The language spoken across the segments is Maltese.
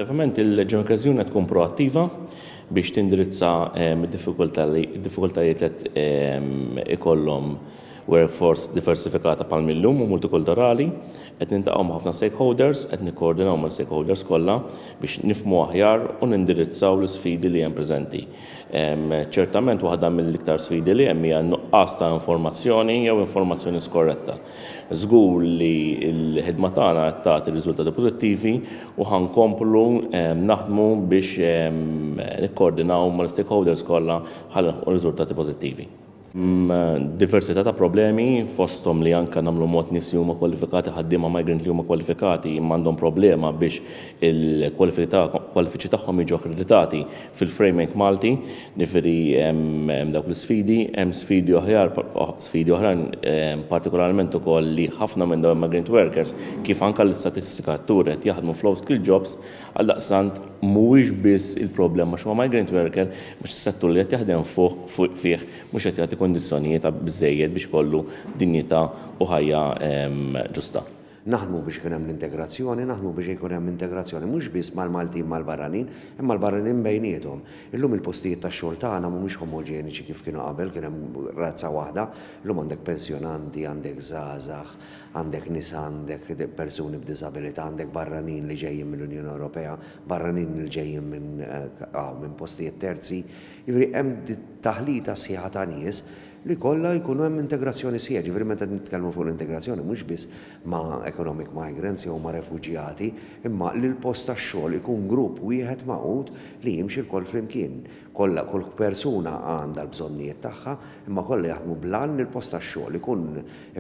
Effettivament il-Leġjon Kazjuna tkun proattiva biex tindirizza ehm, diffikultajiet li ehm, ikollhom workforce diversifikata pal millum u multikulturali, qed nintaqgħu ma' ħafna stakeholders, qed nikkoordinaw ma' stakeholders kollha biex nifmu aħjar u nindirizzaw l-sfidi li hemm preżenti. Ehm, ċertament waħda mill-iktar sfidi li hemm hija nuqqas ta' informazzjoni jew informazzjoni skorretta. Żgur li l-ħidma tagħna qed tagħti riżultati pożittivi u ħa nkomplu naħdmu biex nikkoordinaw mal-stakeholders kollha ħalli nilħqu riżultati pożittivi. Diversità ta' problemi fosthom li anke nagħmlu mod nies li huma kwalifikati ħaddiema migrant li huma kwalifikati imma għandhom problema biex il-kwalifiċi tagħhom jiġu akkreditati Fil-framing Malti, jiġifieri hemm dawk l-isfidi, hemm sfidi oħjar, sfidi oħrajn partikolarment ukoll li ħafna minn dawn il-migrant workers, kif anke l-istatistika turi qed jaħdmu f'low skill jobs, għaldaqstant mhuwiex biss il-problema għax huwa migrant worker għax is-settur li qed jaħdem fih mhux qed jagħti kundizzjonijiet biżżejjed biex ikollu dinjità u ħajja ġusta. Naħdmu biex ikun hemm l-integrazzjoni, naħdmu biex ikun hemm integrazzjoni mhux biss mal-Maltin mal-barranin, imma l-barranin bejniethom. Illum il-postijiet tax-xogħol tagħna mhumiex omoġeniċi kif kienu qabel, kien hemm razza waħda, illum għandek pensjonanti, għandek żgħażagħ, għandek nisa, għandek persuni b'diżabilità, għandek barranin li ġejjin mill-Unjoni Ewropea, barranin li ġejjin minn hawn, minn postijiet terzi. Jiġifieri hemm taħlita sħiħa ta' nies. li jkollha jkun hemm integrazzjoni sħiħa, jiġifieri meta nitkellmu fuq l-integrazzjoni mhux biss ma' economic migrants jew ma' refuġjati, imma li l-post tax-xogħol ikun grupp wieħed magħqud li jimxi lkoll flimkien. Kollha, kull persuna għandha l-bżonnijiet tagħha, imma kollha jaħdmu bl-għan li l-post tax-xogħol ikun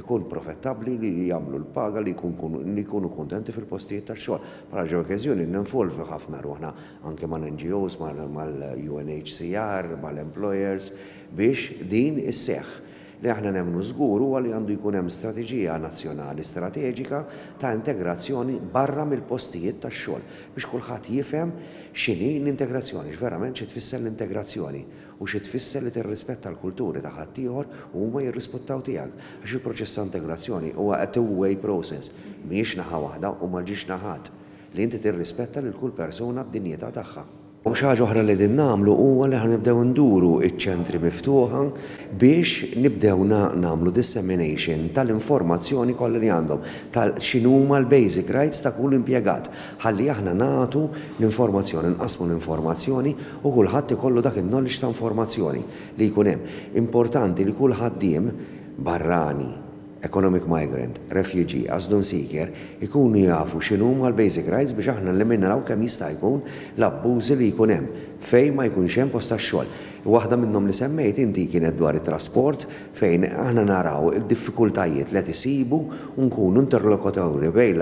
ikun profettabbli, li jagħmlu l-paga, li jkun li jkunu kuntenti fil-postijiet tax-xogħol. Bħala l-ġeokeżjoni ninvolvu ħafna ruħna anke mal-NGOs, mal-UNHCR, mal-employers, Biex din isseħħ, li aħna nemmnu żgur huwa li għandu jkun hemm strateġija nazzjonali strateġika ta' integrazzjoni barra mill-postijiet tax-xogħol biex kulħadd jifhem x'inhi l-integrazzjoni, x'verament xi tfisser l-integrazzjoni u xi tfisser li tirrispetta l-kulturi ta' ħaddieħor u huma jirrisputtaw tiegħek għax il-proċess ta' integrazzjoni huwa a two way process mhijiex naħa waħda u ma ġiex naħat li inti tirrispetta lil kull persuna b'dinjità tagħha. U xi ħaġa oħra li qegħdin nagħmlu huwa li ħa nibdew nduru ċ-ċentri miftuħa biex nibdew nagħmlu dissemination tal-informazzjoni kollha li għandhom ta' x'inhuma l-basic rights ta' kull impjegat ħalli aħna nagħtu l-informazzjoni, nqassmu l-informazzjoni u kulħadd ikollu dak in-knowledge ta' informazzjoni li jkun hemm. Importanti li kull ħaddiem barrani, economic migrant, refugee, asylum seeker, ikunu jafu x'inhuma l-basic rights biex aħna nliminaw kemm jista' jkun l-abbużi li jkun hemm fejn ma jkunx hemm post tax-xogħol. Waħda minnhom li semmejt inti kienet dwar it-trasport fejn aħna naraw id-diffikultajiet li qed isibu u nkunu interlokuturi bejn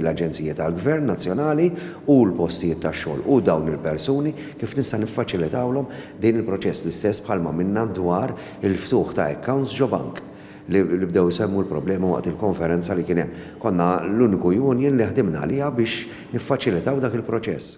l-aġenziji tal-gvern nazzjonali u l-postijiet tax-xogħol u dawn il-persuni kif nista' niffaċilitawlhom din il-proċess l-istess bħalma għamilna dwar il-ftuħ ta' accounts ġo bank li bdew isemmu l-problema waqt il-konferenza li kien hemm. Konna l-uniku union li ħdimna għaliha biex niffaċilitaw dak il-proċess.